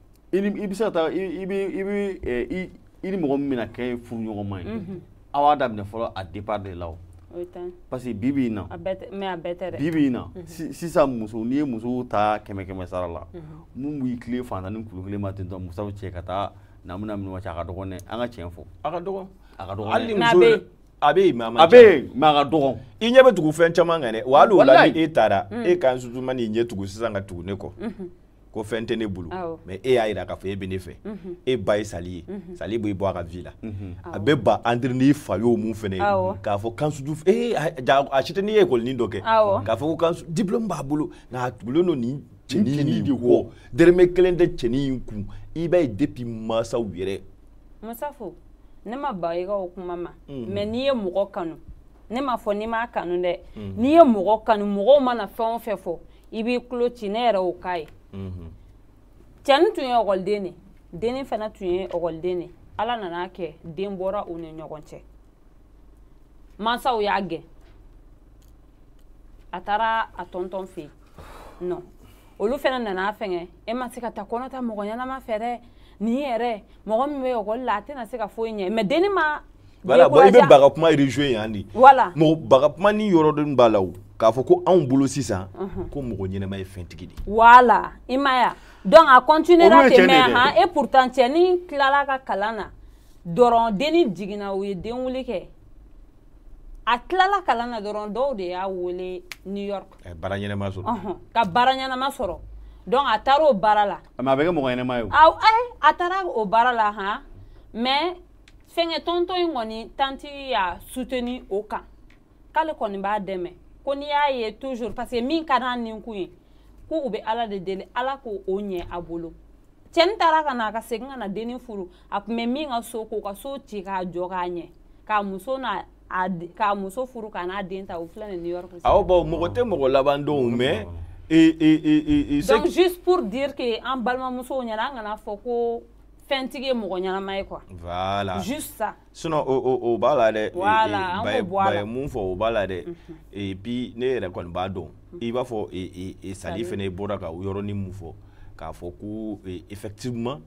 i bɛ se ka taa i bɛ i bɛ eh, i ni mɔgɔ min bɛna kɛ furuɲɔgɔnma ye mhm. aw b'a daminɛ fɔlɔ a départ de la o parce que bi bi in na bi bi in na mhm. sisan muso n'i ye musow ta kɛmɛ kɛmɛ sara la mhm. min b'i tilen fantan ni kulu kelen ma ten tɔ musow cɛ ka taa na bɛna minnu cɛ a ka dɔgɔn dɛ an ka tiɲɛ fɔ a ka dɔgɔn a ka dɔgɔn hali muso a bɛ yen mais a man ca a bɛ yen mais a ka dɔgɔn i ɲɛ bɛ tugu fɛn caman kan dɛ wa hali o la ni e taara e ka nsutuma n'i ɲɛ tugu sisan ka tugu ne kɔ ko fɛn tɛ ne bolo mais e y'a yira k'a fɔ e bɛ ne fɛ mhm. e ba ye sali ye mhm. sali b'i bɔ a ka vie la mhm. a bɛ ba entre n'i fa y'o mun fɛnɛ ye k'a fɔ kansuju ee a si tɛ n'i ye ekɔlinin dɔ kɛ k'a fɔ ko kansu diplɔmu b'a bolo nka a tugulen don nin cɛnin de kɔ dɛrɛmɛ kelen tɛ cɛnin in kun i b'a ye depuis mansaw yɛrɛ masafo ne ma ba i ka o kuma ma mais n'i ye mɔgɔ kanu ne m'a fɔ n'i m'a kanu dɛ n'i ye mɔgɔ kanu mɔgɔw mana fɛn o fɛn fɔ i b'i tulo ci ne yɛrɛ o k'a ye mhm. cɛnin tun ye ɔkɔliden de dennin fana tun ye ɔkɔliden de ala nana kɛ den bɔra u ni ɲɔgɔn cɛ mansaw y'a gɛn a taara a tɔntɔn fɛ yen non olu fana nana fɛngɛ e ma se ka taa kɔnɔ ta mɔgɔ ɲɛnama fɛ dɛ nin yɛrɛ mɔgɔ min bɛ ɔkɔli la a tɛna se ka foyi ɲɛ mais denni ma voilà bon i bɛ ba ka kuma rejoint yan de voilà mɔgɔ ba ka kuma ni yɔrɔ dɔnni b'a la o k'a fɔ ko anw bolo sisan mhm. ko mɔgɔ ɲɛnama ye fɛntigi de voilà i m'a ye donc a continuera ten mais han et pourtant cɛnin tilala ka kalan na dɔrɔn denni jiginna u ye denwuli kɛ a tilala kalan na dɔrɔn dɔw de y'a wele new york eh, baara ɲɛnama sɔrɔ uh-huh. ka baara ɲɛnama sɔrɔ donc a taara o baara la mais a bɛ kɛ mɔgɔ ɲɛnama ye o a taara o baara la han mais fɛnkɛ tɔntɔn in kɔni tanti y'a soutenir o kan k'ale kɔni b'a dɛmɛ ko n'i y'a ye toujours parce que min ka d'an nin kun ye ko u bɛ ala de deli ala k'o ɲɛ a bolo cɛni taara ka na ka segin ka na denni furu a tun bɛ min ka so k'o ka so ci k'a jɔ k'a ɲɛ k'a muso n'a k'a muso furu ka n'a den ta o filɛ nin new york awɔ bawo mɔgɔ tɛ mɔgɔ laban dɔn mais donc juste pour dire que an balimamusow ɲɛna an kan'a fɔ ko fɛntigi ye mɔgɔ ɲɛnama ye quoi voilà juste ça sinon o o o b'a la dɛ voilà an k'o bɔ a la ba ye mun fɔ o b'a la dɛ mhm. et puis ne yɛrɛ kɔni b'a dɔn mhm. i b'a fɔ e e sali fɛnɛ bɔra ka yɔrɔnin mun fɔ k'a fɔ ko e, effectivement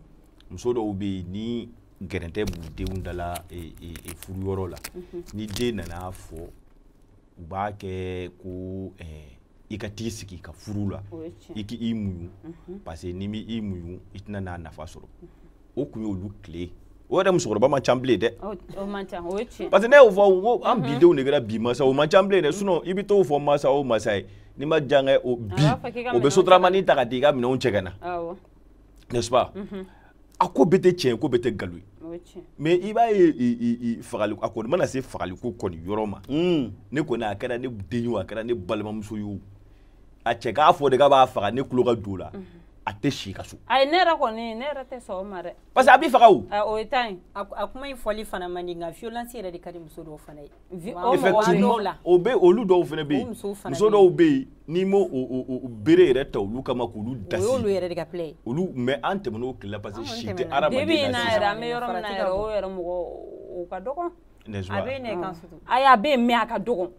muso dɔw bɛ yen ni gɛrɛntɛ b'u denw dala e, e, e furu yɔrɔ la mhm. ni den nana fɔ u b'a kɛ ko eh, i ka t'i sigi ka furu la i k'i muɲu mhm. parce que n'i m'i muɲu i tɛna n'a nafa sɔrɔ mhm. o kun y'olu tile o yɛrɛ musokɔrɔba man ca bilen dɛ parce que ne y'o fɔ ko an mhm. bidenw de kɛra bi masa o man ca bilen dɛ sinon i bɛ t'o fɔ masa o masa ye n'i ma jankɛ o bi o bɛ sotaramani ta ka t'i ka minɛnw cɛ ka na n'est-ce pas a ko bɛɛ tɛ tiɲɛ ko bɛɛ tɛ nkalon ye mais i b'a ye fagali a kɔni mana se fagali ko kɔni yɔrɔ ma hmm. ne kɔni a kɛra ne den ye o a kɛra ne balimamuso ye o a cɛ k'a fɔ de k'a b'a faga ne tulo ka don o la mhm. a tɛ si ka so. ayi ne yɛrɛ kɔni ne yɛrɛ tɛ sɔn o ma dɛ. parce que a b'i faga o. o ye tan ye a kuma in fɔli fana man di nka violence yɛrɛ de ka di muso dɔw fana ye. effectivement o bɛ olu dɔw fana bɛ yen muso dɔw bɛ yen n'i m'o bere yɛrɛ ta olu kama k'olu dasi o y'olu yɛrɛ de ka plɛ ye olu mais an tɛmɛna o tile la parce que si tɛ hadamaden na sisan bi bi in na yɛrɛ an bɛ yɔrɔ min na yɛrɛ o yɛrɛ mɔgɔ o ka dɔgɔn a bɛ yen dɛ kansutu ayi a bɛ yen mais a ka dɔgɔn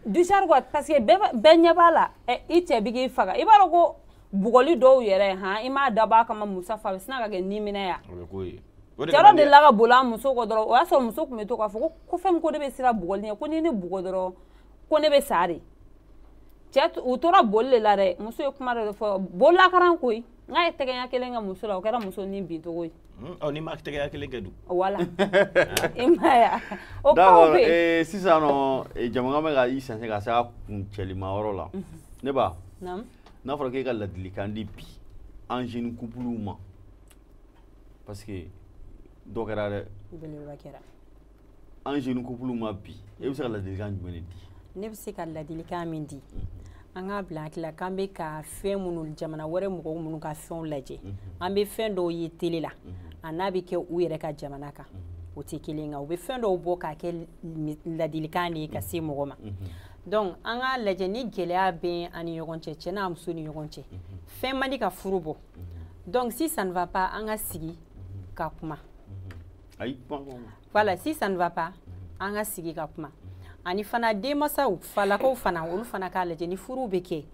disari quoi parce que bɛɛ bɛɛ ɲɛ b'a la i cɛ bɛ k'i faga i b'a dɔn ko bugɔli dɔw yɛrɛ han i m'a dabɔ a kama musaf a bɛ sin ka kɛ nimisa ye cɛ dɔ delila ka boli a muso kɔ dɔrɔn o y'a sɔrɔ muso tun bɛ to k'a fɔ ko ko fɛn ko ne bɛ siran bugɔli ɲɛ ko ni ne bugɔ dɔrɔn ko ne bɛ sa de cɛ u tora boli de la dɛ muso ye kuma dɔ de fɔ boli la karan koyi n k'a ye tɛgɛ ɲɛ kelen kɛ muso la o kɛra muso ni bin cogo ye n'i ma tɛgɛ ɲɛ kelen kɛ dun wala i m'a ye o kow bɛ yen sisan nɔ jɛmukan bɛ ka i sɛnsɛn ka se a kuncɛlima yɔrɔ la ne ba n'a fɔra k'e ka ladilikan di bi an jeune couple ma parce que dɔ kɛra dɛ belebeleba kɛra an jeune couple ma bi e bɛ se ka ladilikan jumɛn de di ne bɛ se ka ladilikan min di mhm. an k'a bila an hakili la k'an bɛ ka fɛn minnu jamana wɛrɛ mɔgɔw minnu ka fɛnw lajɛ mhm. an bɛ fɛn dɔw ye tele la mhm. a n'a bɛ kɛ u yɛrɛ ka jamana kan o tɛ kelen kan u bɛ fɛn dɔw bɔ k'a kɛ ladilikan de ye ka se mɔgɔ ma donc an k'a lajɛ ni gɛlɛya bɛ an ni ɲɔgɔn cɛ cɛ n'a muso ni ɲɔgɔn cɛ fɛn man di ka furu bɔ donc si ça ne va pas an ka sigi ka kuma voilà si ça ne va pas an ka sigi ka kuma ani fana denmasaw falakaw fana olu fana k'a lajɛ ni furuw bɛ kɛ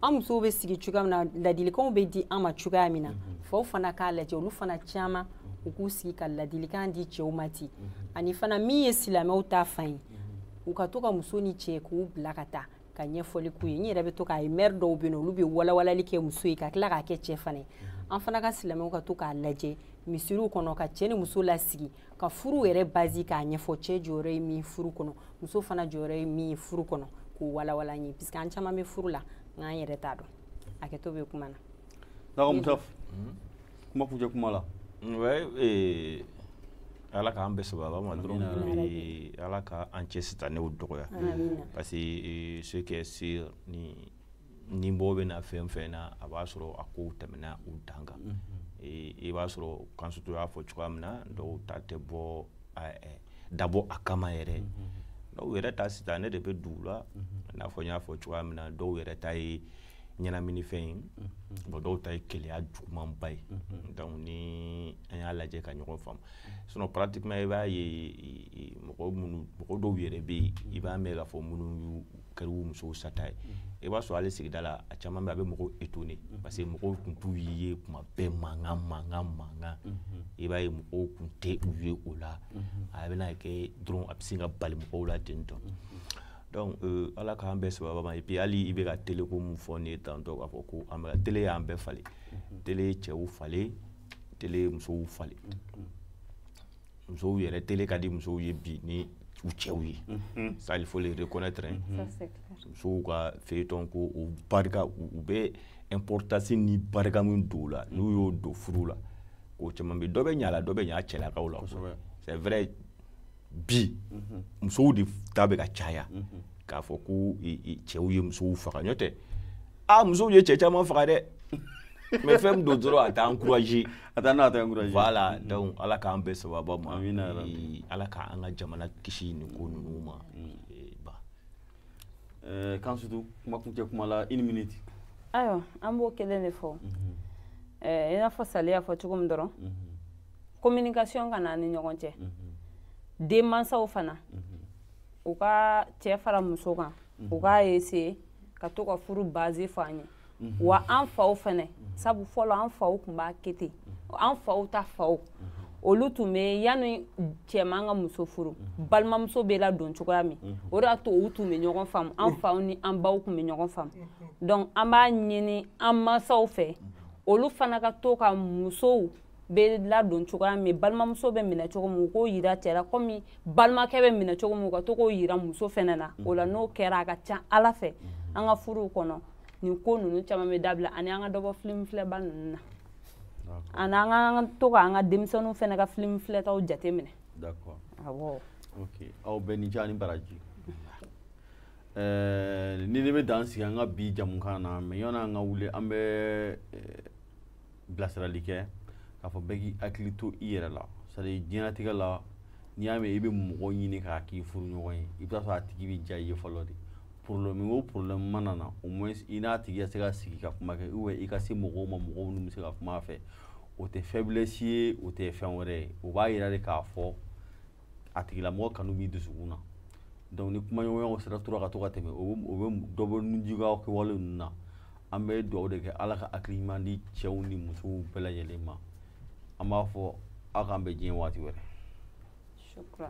an musow bɛ sigi cogoya min na ladilikanw bɛ di an ma cogoya min na faw fana k'a lajɛ olu fana caman u k'u sigi ka ladilikan di cɛw ma ten ani fana min ye silamɛw ta fan ye u ka to ka muso ni cɛ k'u bila ka taa ka ɲɛfɔli k'u ye n yɛrɛ bɛ to k'a ye mɛri dɔw bɛ yen olu bɛ walawalali kɛ muso ye ka tila k'a kɛ cɛ fana ye mhm. an fana ka silamɛw ka to k'a lajɛ misiriw kɔnɔ ka cɛ ni muso lasigi ka furu yɛrɛ base k'a ɲɛfɔ cɛ jɔyɔrɔ ye min furu kɔnɔ muso fana jɔyɔrɔ ye min furu kɔnɔ k'o walawala an ye puisque an caman bɛ furu la nka an yɛrɛ t'a dɔn hakɛto bɛ kuma na. kuma kuncɛ kuma la eh, ala k'an bɛɛ sababa ma dɔrɔn ala ka an cɛ sitanɛw dɔgɔya parce que eh, ce qui est sûr ni ni bɔ bɛ na fɛn fɛn na a b'a sɔrɔ a kow tɛmɛna u dan kan mhm. eh, i b'a sɔrɔ kansutu y'a fɔ cogoya min na dɔw ta tɛ bɔ eh, dabɔ a kama yɛrɛ mhm. dɔw yɛrɛ ta sitanɛ de bɛ don u la mhm. i n'a fɔ n y'a fɔ cogoya min na dɔw yɛrɛ ta ye ɲɛnaminifɛn ye bon dɔw ta ye keleya jugumanba ye donc ni an y'a lajɛ ka ɲɔgɔn faamu sinon pratiquement i b'a ye mɔgɔ minnu mɔgɔ dɔw yɛrɛ bɛ yen i b'a mɛn k'a fɔ minnu kɛr'u musow sata ye i b'a sɔrɔ hali sigida la a caman bɛ a bɛ mɔgɔw étonné parce que mɔgɔw tun t'u ye kuma bɛɛ mankan mankan mankan i b'a ye mɔgɔw tun tɛ u ye o la a bɛna kɛ dɔrɔn a bɛ sin ka bali mɔgɔw la ten tɔ donc euh, ala k'an bɛɛ sababa ma et puis hali i bɛ ka tele ko mun fɔ ne ye tantôt k'a fɔ ko an bɛ tele y'an bɛɛ falen tele ye cɛw falen tele ye musow falen musow yɛrɛ tele ka di musow ye bi ni u cɛw ye ça il faut le reconnaître musow ka feuilleton ko o barika u bɛ importance ni barika min don o la n'u y'o don furu la o caman bɛ dɔ bɛ ɲa a la dɔ bɛ ɲa a cɛlakaw la c'est vrai bi mhm. musow de ta bɛ ka caya mhm. k'a fɔ ko cɛw ye musow faga n'o tɛ a musow ye cɛ caman faga dɛ mais fɛn min don dɔrɔn an t'a encourager an t'a an t'a encourager voilà mhm. donc ala k'an bɛɛ sababa ma ala k'an ka jamana kisi nin ko ninnu ma eh, ba eh, kan surtout kuma kuncɛ kuma la une minute ayiwa an b'o kelen de fɔ eh, i n'a fɔ sali y'a fɔ cogo min dɔrɔn communication ka n'an ni ɲɔgɔn cɛ denmansaw fana u ka cɛ fara muso kan u k'a essayer ka to ka furu base fɔ an ye wa an faw fana sabu fɔlɔ an faw tun b'a kɛ ten an faw ta faw olu tun bɛ yanni cɛman ka muso furu balimamuso bɛ ladon cogoya min o de y'a to u tun bɛ ɲɔgɔn faamu an faw ni an baw tun bɛ ɲɔgɔn faamu donc an b'a ɲini an mansaw fɛ olu fana ka to ka musow bɛ ladon cogoya min balimamuso bɛ minɛ cogo min u k'o yira cɛ la komi balimakɛ bɛ minɛ cogo min u ka to k'o yira muso fɛnɛ na o la n'o kɛra a ka ca ala fɛ an ka furuw kɔnɔ nin ko ninnu caman bɛ dabila ani an ka dɔ bɔ filimu filɛba ninnu na ani an ka to ka an ka denmisɛnninw fɛnɛ ka filimu filɛtaw jate minɛ awɔ aw bɛɛ ni ce ani baraji nin de bɛ dan sigi an ka bi jɛmukan na mais yanni an ka wuli an bɛ bilasirali kɛ k'a fɔ bɛɛ k'i hakili to i yɛrɛ la c'est-à-dire diɲɛnatigɛ la n'i y'a mɛn i bɛ mɔgɔ ɲini k'a k'i furuɲɔgɔn ye i bɛ t'a sɔrɔ a tigi bɛ diya i ye fɔlɔ de problème o problème mana na au moins i n'a tigi ka se ka sigi ka kuma kɛ ou bien i ka se mɔgɔw ma mɔgɔ minnu bɛ se ka kuma a fɛ o tɛ faiblesse ye o tɛ fɛn wɛrɛ ye o b'a yira de k'a fɔ a tigilamɔgɔ kanu b'i dusukun na donc ni kumaɲɔgɔnyaw sera tora ka to ka tɛmɛ o bɛ dɔ bɔ nijuguya kɛwale ninnu na an bɛ dugawu de kɛ ala ka hakili ɲuman di cɛw ni musow bɛɛ lajɛlen ma an b'a fɔ aw k'an bɛn diɲɛ waati wɛrɛ شكرا